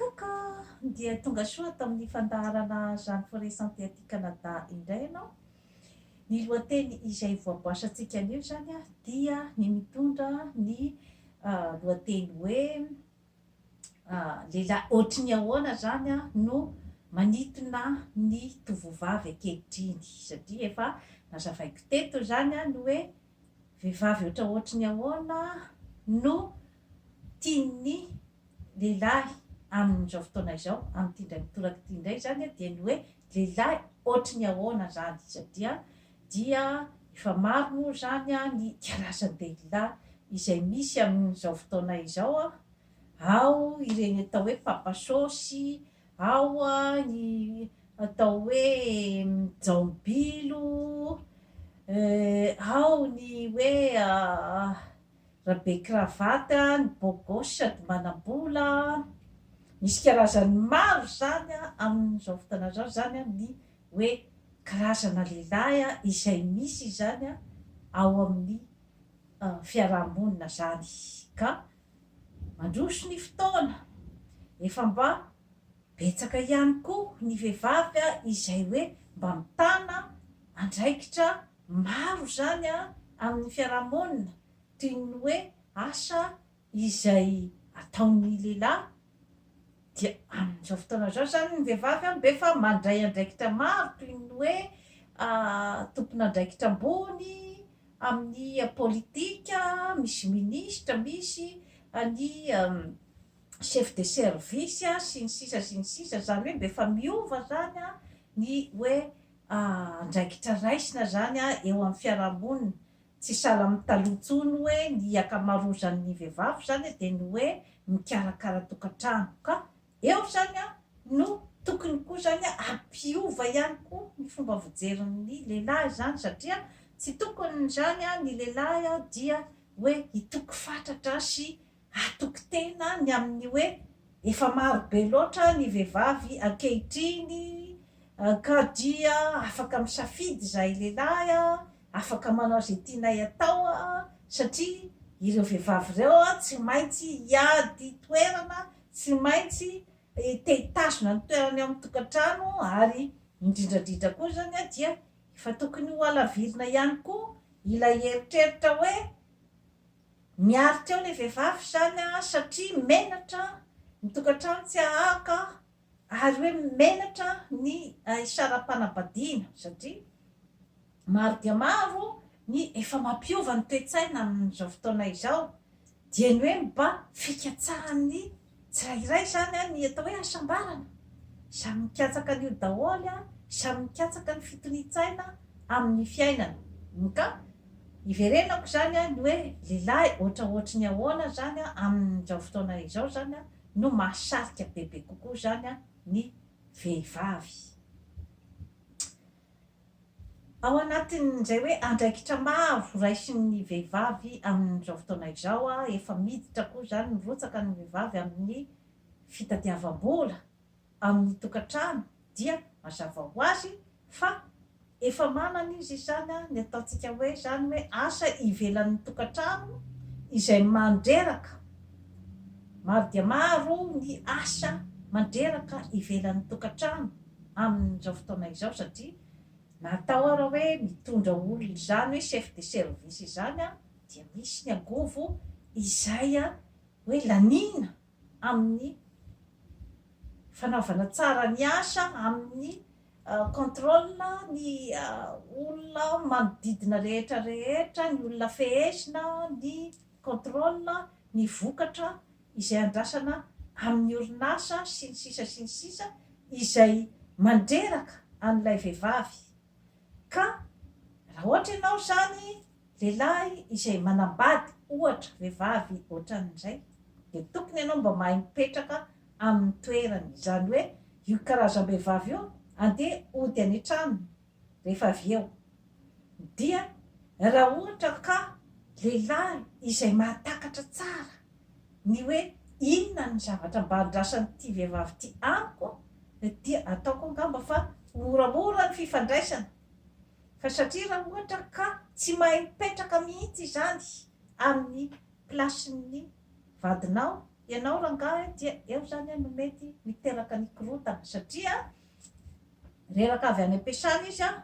Kaka! Dia tonga soa tamin'ny fandaharana Jeanne Forest Santé aty Canada indray ianao. Ny lohateny izay voaboasantsika anio izany dia ny mitondra ny lohateny hoe. lehilahy ohatry ny ahoana izany no manintona ny tovovavy ankehitriny? Satria efa nazavaiko teto izany ny hoe vehivavy ohatra ohatry ny ahoana no tian'ny lehilahy amin'izao fotoana izao, amin'ity indray mitoraka ity indray izany dia ny hoe lehilahy ohatry ny ahoana izany satria dia efa maro moa izany ny karazan-dehilahy izay misy amin'izao fotoana izao, ao ireny atao hoe papa sôsy, ao ny atao hoe jaobilo, ao ny hoe rabe cravate, ny beau gosse sady manam-bola, misy karazany maro izany amin'izao fotoana izao izany ny hoe karazana lehilahy izay misy izany ao amin'ny fiaraha-monina zany ka mandroso ny fotoana efa mba betsaka ihany koa ny vehivavy izay hoe mba mitana andraikitra maro zany amin'ny fiaraha-monina toy ny hoe asa Izay ataon'ny lehilahy dia amin'izao fotoana izao izany ny vehivavy an, dia efa mandray andraikitra maro toy ny hoe tompon'andraikitra ambony amin'ny politika, misy minisitra, misy ny chef de service sy ny sisa sy ny sisa, izany hoe mba efa miova izany ny hoe andraikitra raisina izany eo amin'ny fiarahamonina Tsy sahala amin'ny taloha intsony hoe ny akamarozan'ny vehivavy izany dia ny hoe mikarakara tokantrano ka eo izany no tokony koa izany hampiova ihany koa ny fomba fijerin'ny lehilahy izany satria tsy tokony izany ny lehilahy dia hoe hitoky fatratra sy Hatoky tena ny amin'ny hoe efa maro be loatra ny vehivavy ankehitriny ka dia afaka misafidy izahay lehilahy, afaka manao izay tianay atao satria ireo vehivavy ireo tsy maintsy hiady toerana, tsy maintsy te hitazona ny toerany ao amin'ny tokantrano ary indrindrandrindra koa izany dia efa tokony hohalavirina ihany koa ilay eritreritra hoe Niary teo ilay vehivavy izany an, satria menatra ny tokantrano tsy hahaka ary hoe menatra ny isarapanambadiana satria maro dia maro ny efa mampiova ny toe-tsaina amin'izao fotoana izao, dieny hoe mba fikatsahan'ny Tsirairay izany ny atao hoe hasambarana, samy mikatsaka an'io daholo, samy mikatsaka ny fitonian-tsaina amin'ny fiainana. Ka iverenako izany ny hoe lehilahy ohatraohatry ny ahoana izany amin'izao fotoana izao izany no mahasarika bebe kokoa izany ny vehivavy. Ao anatin'izay hoe andraikitra maro raisin'ny vehivavy amin'izao fotoana izao, efa miditra koa izany mirotsaka ny vehivavy amin'ny fitadiavam-bola amin'ny tokantrano dia mazava ho azy fa efa manana izy izany ny ataontsika hoe izany hoe asa ivelan'ny tokantrano izay mandreraka, maro dia maro ny asa mandreraka ivelan'ny tokantrano. amin'izao fotoana izao satria na atao ara hoe mitondra olona izany hoe chef de service izany an dia misy ny angovo izay an hoe laniana amin'ny fanaovana tsara ny asa amin'ny contrôle ny olona manodidina rehetra rehetra ny olona fehezina ny contrôle ny vokatra izay andrasana amin'ny orinasa sy ny sisa sy ny sisa izay mandreraka an'ilay vehivavy ka raha ohatra ianao izany lehilahy izay manambady ohatra vehivavy ohatran'izay dia tokony ianao mba mahay mipetraka amin'ny toerany izany hoe io karazam-behivavy io andeha hody any an-tranony rehefa avy eo dia raha ohatra ka lehilahy izay mahatakatra tsara ny hoe inona ny zavatra mba andrasan'ity vehivavy ity amiko dia ataoko angamba fa moramora ny fifandraisana fa satria raha ohatra ka tsy mahay mipetraka mihitsy izany amin'ny plasin'ny vadinao ianao rangahy dia eo izany no mety miteraka ny korontana satria Reraka avy any am-piasana izy an!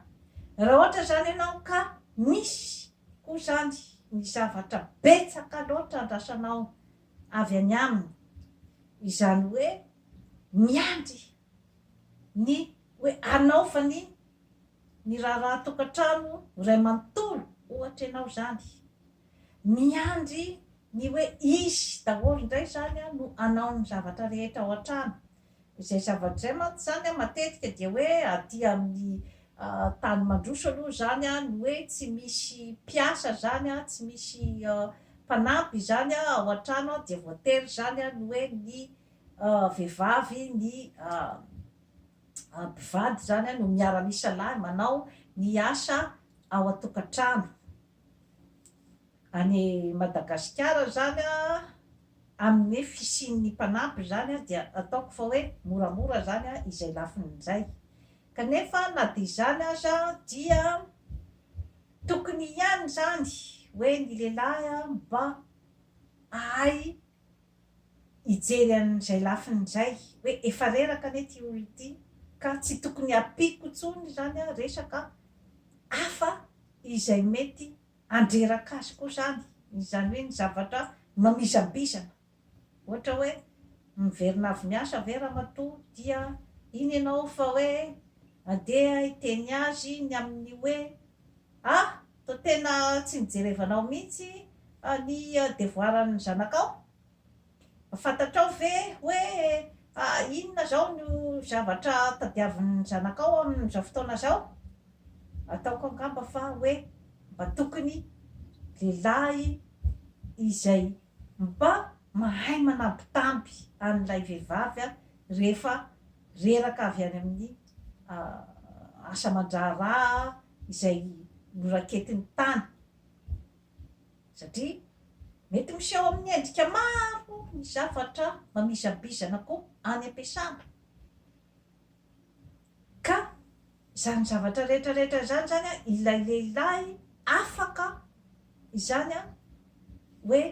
Raha ohatra izany ianao ka misy koa izany ny zavatra betsaka loatra andrasanao avy any aminy, izany hoe miandry ny hoe hanaovany ny raharahan-tokantrano iray manontolo ohatra ianao izany, miandry ny hoe izy daholo indray izany no hanao ny zavatra rehetra ao an-trano, Izay zavatra izay mantsy izany matetika dia hoe aty amin'ny tany mandroso aloha izany ny hoe tsy misy mpiasa izany, tsy misy mpanampy izany ao an-trano dia voatery izany ny hoe ny vehivavy, ny mpivady izany no miara-misalahy manao ny asa ao an-tokantrano. Any Madagasikara izany an, amin'ny hoe fisian'ny mpanampy izany an, dia ataoko fa hoe moramora izany an, izay lafiny izay. Kanefa na dia izany aza dia tokony ihany izany hoe ny lehilahy an mba hahay hijery an'izay lafiny izay hoe efa reraka anie ity olona ity ka tsy tokony hampiako intsony izany aho resaka hafa izay mety handreraka azy koa izany, izany hoe ny zavatra mamizambizana ohatra hoe miverina avy miasa ve ramatoa dia iny ianao fa hoe andeha hiteny azy ny amin'ny hoe ah! Toa tena tsy nijerevanao mihitsy ny devoaran'ny zanakao? Fantatrao ve hoe inona izao no zavatra tadiavin'ny zanakao amin'izao fotoana izao? Ataoko angamba fa hoe mba tokony lehilahy izay mba mahay manambitamby an'ilay vehivavy rehefa reraka avy any amin'ny asa aman-draharaha, izay noraketiny tany satria mety miseho amin'ny endrika maro ny zavatra mamizabizana koa any am-piasana ka izany zavatra rehetra rehetra izany izany an ilay lehilahy afaka izany an hoe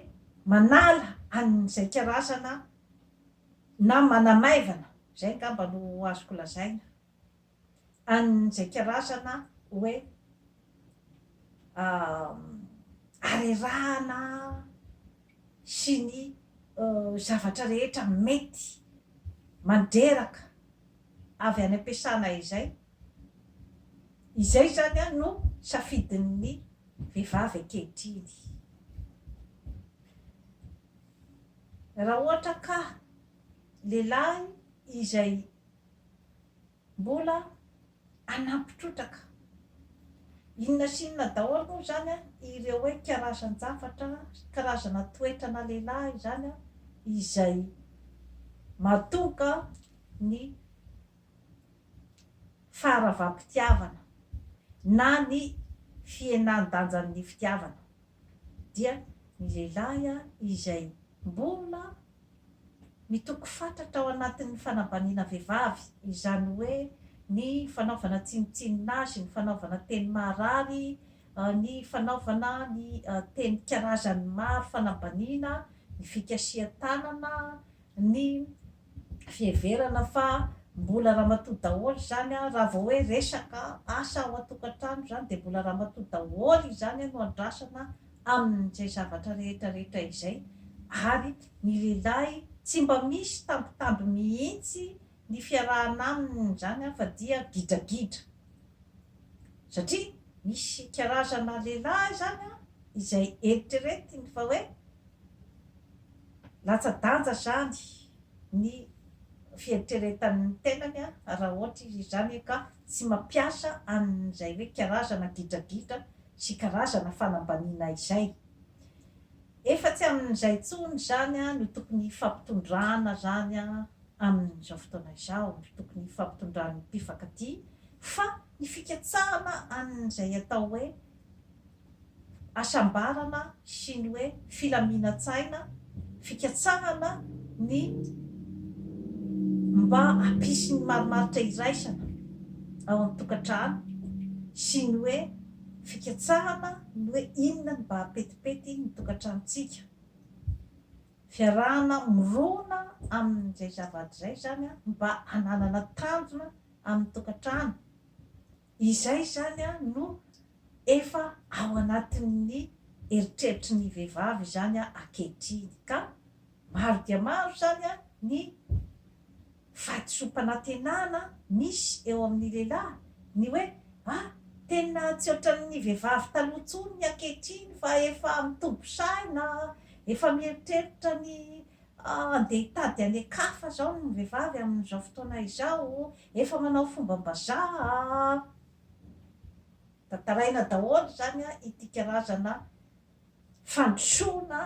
manala an'izay karazana na manamaivana izay angamba no azoko lazaina an'izay karazana hoe harerahana sy ny zavatra rehetra mety mandreraka avy any am-piasana izay. Izay izany no safidin'ny vehivavy ankehitriny. Raha ohatra ka lehilahy izay. Mbola hanampy trotraka. Inona sy inona daholo moa izany ireo hoe karazan-javatra, karazana toetrana lehilahy izany izay mahatonga ny faharavam-pitiavana na ny fihenan-danjan'ny fitiavana. dia ny lehilahy izay mbola mitoky fatratra ao anatin'ny fanambaniana vehivavy, izany hoe ny fanaovana tsinontsinona azy, ny fanaovana teny maharary, ny fanaovana ny teny karazany maro fanambaniana, ny fikasihan-tanana, ny fiheverana fa mbola ramatoa daholo izany an, raha vao hoe resaka asa ao an-tokantrano izany dia mbola ramatoa daholo izany no andrasana amin'izay zavatra rehetra rehetra izay ary ny lehilahy tsy mba misy tambitamby mihitsy ny fiarahana aminy izany an fa dia gidragidra satria misy karazana lehilahy izany an izay eritreretiny fa hoe Latsa-danja izany ny fieritreretany ny tenany raha ohatra izy izany ka tsy mampiasa an'izay hoe karazana gidragidra sy karazana fanambaniana izay. Efa tsy amin'izay intsony izany no tokony hifampitondrana izany amin'izao fotoana izao, no tokony hifampitondran'ny mpifankatia fa ny fikatsahana an'izay atao hoe hasambarana sy ny hoe filaminan-tsaina, fikatsahana ny mba hampisy ny marimaritra iraisana ao amin'ny tokantrano sy ny hoe fikatsahana ny hoe inona ny mba hapetipety ny tokantranontsika. Fiarahana mirona amin'izay zavatra izay izany mba hananana tanjona amin'ny tokantrano Izay izany no efa ao anatin'ny eritreritry ny vehivavy izany ankehitriny ka maro dia maro izany ny fahadisoam-panantenana misy eo amin'ny lehilahy, ny hoe a, tena tsy ohatran'ny vehivavy taloha intsony ny ankehitriny fa efa mitombo saina, efa mieritreritra ny Andeha hitady an'Ekafa zao ny vehivavy amin'izao fotoana izao, efa manao fombam-bazaha a! Tantaraina daholo izany a, ity karazana fandrosoana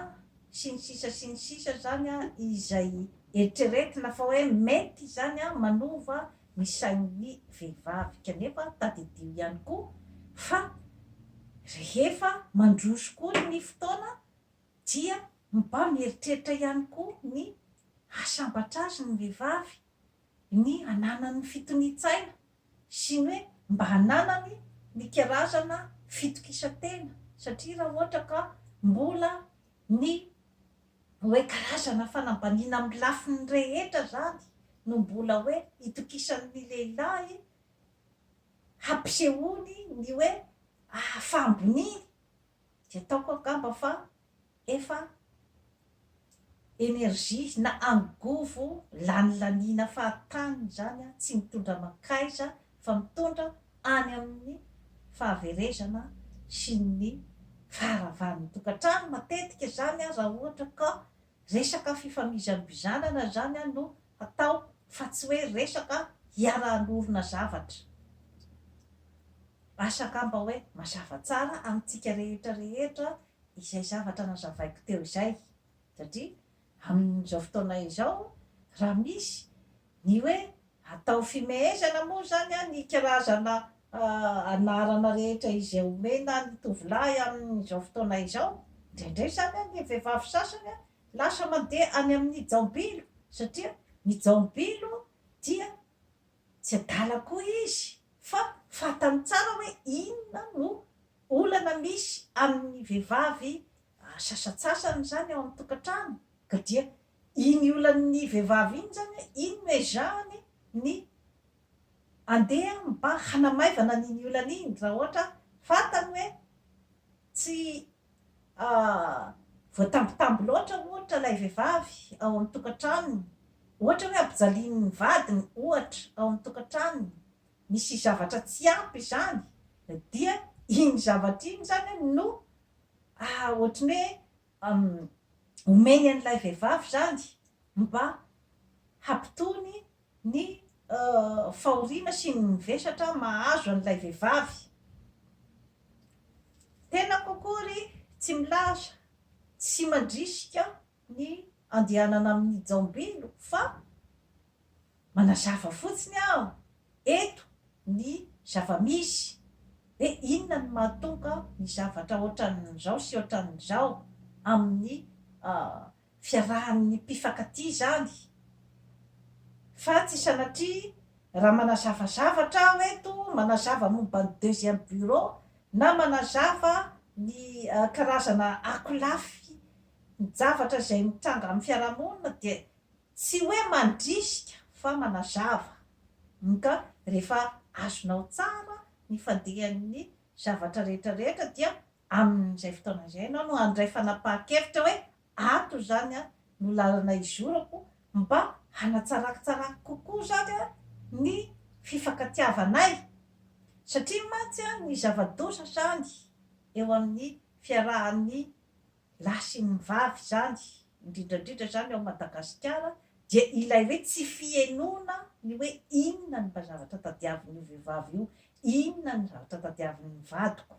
sy ny sisa sy ny sisa izany a, izay eritreretina fa hoe mety izany a, manova ny sain'ny vehivavy. Kanefa tadidio ihany koa fa rehefa mandroso koa ny fotoana, dia mba mieritreritra ihany koa ny hahasambatra azy ny vehivavy, ny hananany ny fitonian-tsaina sy ny hoe mba hananany ny karazana fitokisan-tena satria raha ohatra ka mbola ny hoe karazana fanambaniana amin'ny lafiny rehetra izany no mbola hoe itokisan'ny lehilahy hampisehoany ny hoe ahafaham-boniny, Dia ataoko angamba fa efa energie na angovo lanilaniana fahatany izany an, tsy mitondra mankaiza fa mitondra any amin'ny fahaverezana sy ny faharavan'ny tokantrano matetika izany an raha ohatra ka Resaka fifamizambizanana izany no hatao fa tsy hoe resaka hiara-hanorina zavatra. Asa angamba hoe mazava tsara amintsika rehetra rehetra izay zavatra nazavaiko teo izay satria amin'izao fotoana izao raha misy ny hoe Atao fimehezana moa izany ny karazana anarana rehetra izay omena ny tovolahy amin'izao fotoana izao. Indraindray izany ny vehivavy sasany lasa mandeha any amin'ny jaobilo satria ny jaobilo dia tsy adala koa izy fa fantany tsara hoe inona no olana misy amin'ny vehivavy sasantsasany izany ao an-tokantrano ka dia Iny olan'ny vehivavy iny izany hoe iny no ezahany ny handeha mba hanamaivana an'iny olana iny raha ohatra fantany hoe tsy voatambitamby loatra ohatra ilay vehivavy ao amin'ny tokantranony, ohatra hoe ampijalian'ny vadiny ohatra ao amin'ny tokantranony, misy zavatra tsy ampy izany dia iny zavatra iny izany no ohatry ny hoe omeny an'ilay vehivavy izany mba hampitony ny fahoriana sy ny vesatra mahazo an'ilay vehivavy. Tenako akory tsy milaza sy mandrisika ny andehanana amin'ny jaombilo fa Manazava fotsiny aho eto ny zava-misy hoe inona no mahatonga ny zavatra ohatran'izao sy ohatran'izao amin'ny fiarahan'ny mpifankatia izany fa tsy sanatria raha manazava zavatra aho eto, manazava momba ny deuxième bureau na manazava ny karazana akolafin-javatra izay mitranga amin'ny fiarahamonina dia Tsy hoe mandrisika fa manazava. Mka rehefa azonao tsara ny fandihan'ny zavatra rehetra rehetra dia amin'izay fotoana izay ianao no handray fanapahan-kevitra hoe ato izany no lalana izorako mba hanatsarako tsara kokoa izany ny fifankatiavanay satria mantsy ny zava-doza izany eo amin'ny fiarahan'ny lahy sy ny vavy izany, indrindra indrindra izany ao Madagasikara, dia ilay hoe tsy fihenoana ny hoe inona ny mba zavatra tadiavin'io vehivavy io, inona ny zavatra tadiavin'ny vadiko.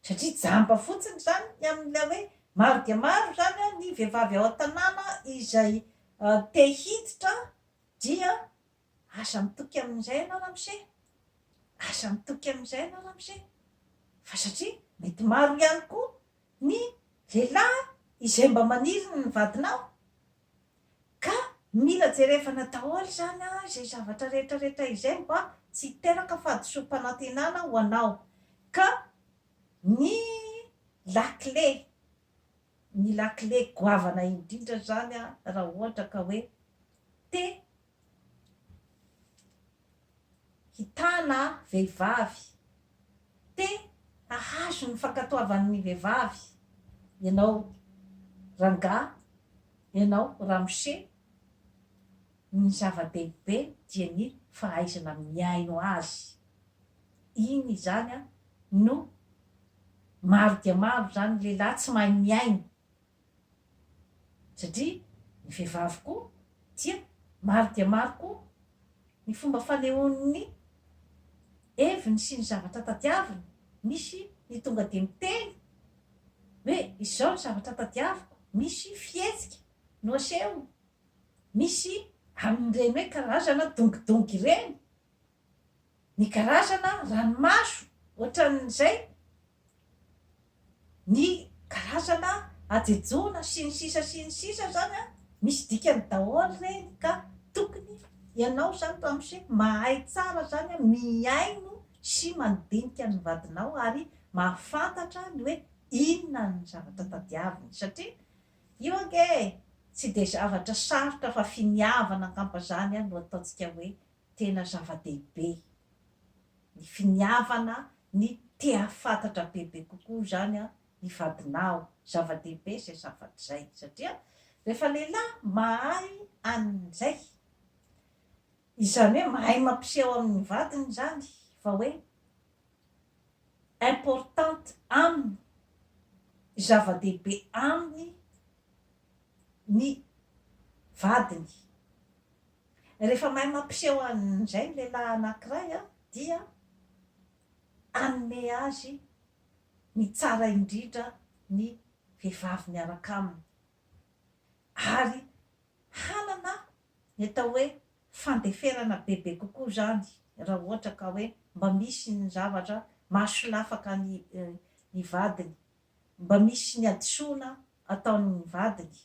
Satria jamba fotsiny izany ny amin'ilay hoe maro dia maro izany ny vehivavy ao an-tanàna izay te hiditra dia aza mitoky amin'izay ianao ramose, aza mitoky amin'izay ianao ramose, fa satria mety maro ihany koa Ny lehilahy izay mba maniry ny vadinao ka mila jerevana daholo izany an, izay zavatra rehetra rehetra izay mba tsy hiteraka fahadisoam-panantenana ho anao ka ny lakile, ny lakile goavana indrindra izany an raha ohatra ka hoe te hitana vehivavy, te hahazo ny fankatoavan'ny vehivavy ianao rangahy, ianao ramose, ny zava-dehibe dia ny fahaizana mihaino azy. Iny izany no maro dia maro izany lehilahy tsy mahay mihaino. satria ny vehivavy koa dia maro dia maro koa ny fomba fanehoany ny heviny sy ny zavatra tadiaviny, misy ny tonga dia miteny hoe izao ny zavatra tadiaviko, misy fihetsika no asehony, misy amin'ireny hoe karazana dongidongy ireny, ny karazana ranomaso ohatran'izay ny karazana hajejoana sy ny sisa sy ny sisa zany an, misy dikany daholo reny ka tokony ianao zany ramose mahay tsara zany an mihaino sy mandinika ny vadinao ary mahafantatra ny hoe inona ny zavatra tadiaviny satria io ange tsy dia zavatra sarotra fa finiavana angamba zany an no ataontsika hoe Tena zava-dehibe ny finiavana ny te hahafantatra bebe kokoa izany an, ny vadinao. Zava-dehibe izay zavatra izay satria rehefa lehilahy mahay an'izay, izany hoe mahay mampiseho amin'ny vadiny izany fa hoe importante aminy, zava-dehibe aminy ny vadiny. Rehefa mahay mampiseho an'izay ny lehilahy anankiray dia hanome azy ny tsara indrindra ny vehivavy miaraka aminy ary hanana ny atao hoe fandeferana bebe kokoa izany raha ohatra ka hoe mba misy ny zavatra mahasolafaka ny vadiny, mba misy ny hadisoana ataon'ny vadiny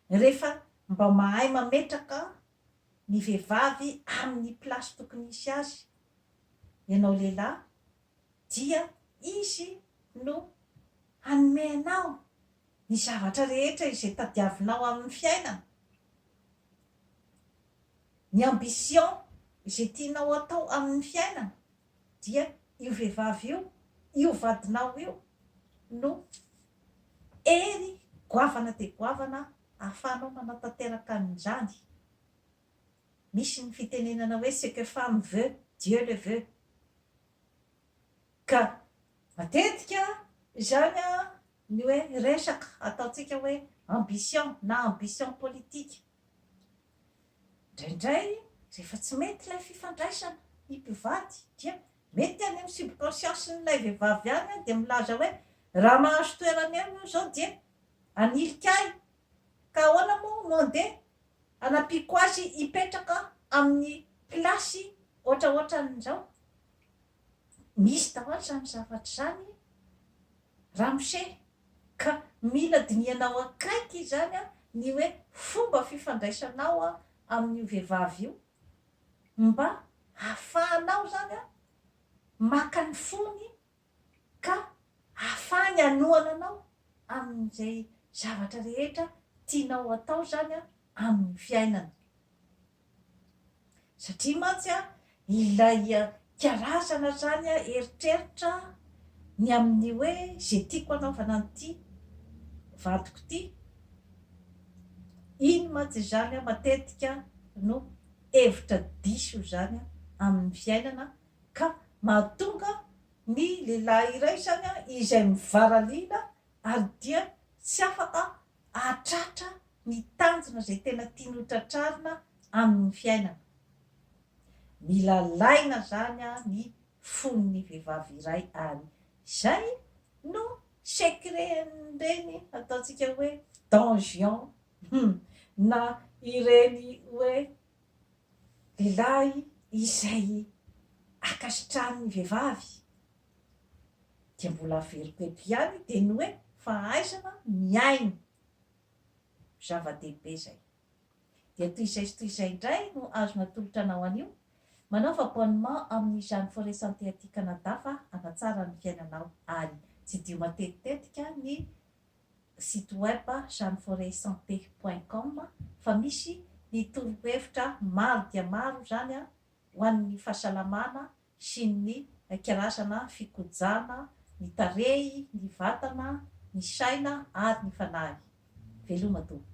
Rehefa mba mahay mametraka ny vehivavy amin'ny place tokony hisy azy ianao lehilahy dia izy no hanome anao ny zavatra rehetra izay tadiavinao amin'ny fiainana, ny ambition izay tianao atao amin'ny fiainana. Dia io vehivavy io, io vadinao io no hery goavana dia goavana ahafahanao manatanteraka an'izany. Misy ny fitenenana hoe ce que femme veut, Dieu le veut. Ka matetika izany Ny hoe resaka ataontsika hoe ambition na ambition politique. Indraindray rehefa tsy mety ilay fifandraisana, ny mpivady dia mety any amin'ny subconscience-n'ilay vehivavy any dia milaza hoe raha mahazo toerana eo io izao dia hanilika ahy ka ahoana moa no handeha hanampiako azy hipetraka amin'ny place ohatraohatran'izao. Misy daholo izany zavatra izany ramose ka mila dinihanao akaiky izany ny hoe fomba fifandraisanao amin'io vehivavy io mba hafahanao izany maka ny fony ka hafahany hanohana anao amin'izay zavatra rehetra tianao hatao izany amin'ny fiainana. Satria mantsy ilay karazana zany eritreritra ny amin'ny hoe ze tiako anaovana an'ity vadiko ity, iny mantsy izany matetika no hevitra diso zany amin'ny fiainana ka mahatonga ny lehilahy iray zany izay mivaralina ary dia tsy afaka hahatratra ny tanjona izay tena tiany ho tratrarina amin'ny fiainana. Mila alaina izany ny fon'ny vehivavy iray ary izay no secret-n'ireny ataontsika hoe don juan hum na ireny hoe lehilahy izay ankasitrahan'ny vehivavy dia mbola averiko eto ihany dia ny hoe fahaizana mihaino zava-dehibe izay dia toy izay sy toy izay indray no azo natolotra anao anio manaova abonnement amin'izany forest santé aty Canada fa hanatsara ny fiainanao ary tsidiho matetitetika ny site web chaneforetsanté point com fa misy ny torohevitra maro dia maro izany ho an'ny fahasalamana sy ny karazana fikojana ny tarehy, ny vatana, ny saina ary ny fanahy. Veloma tompoko.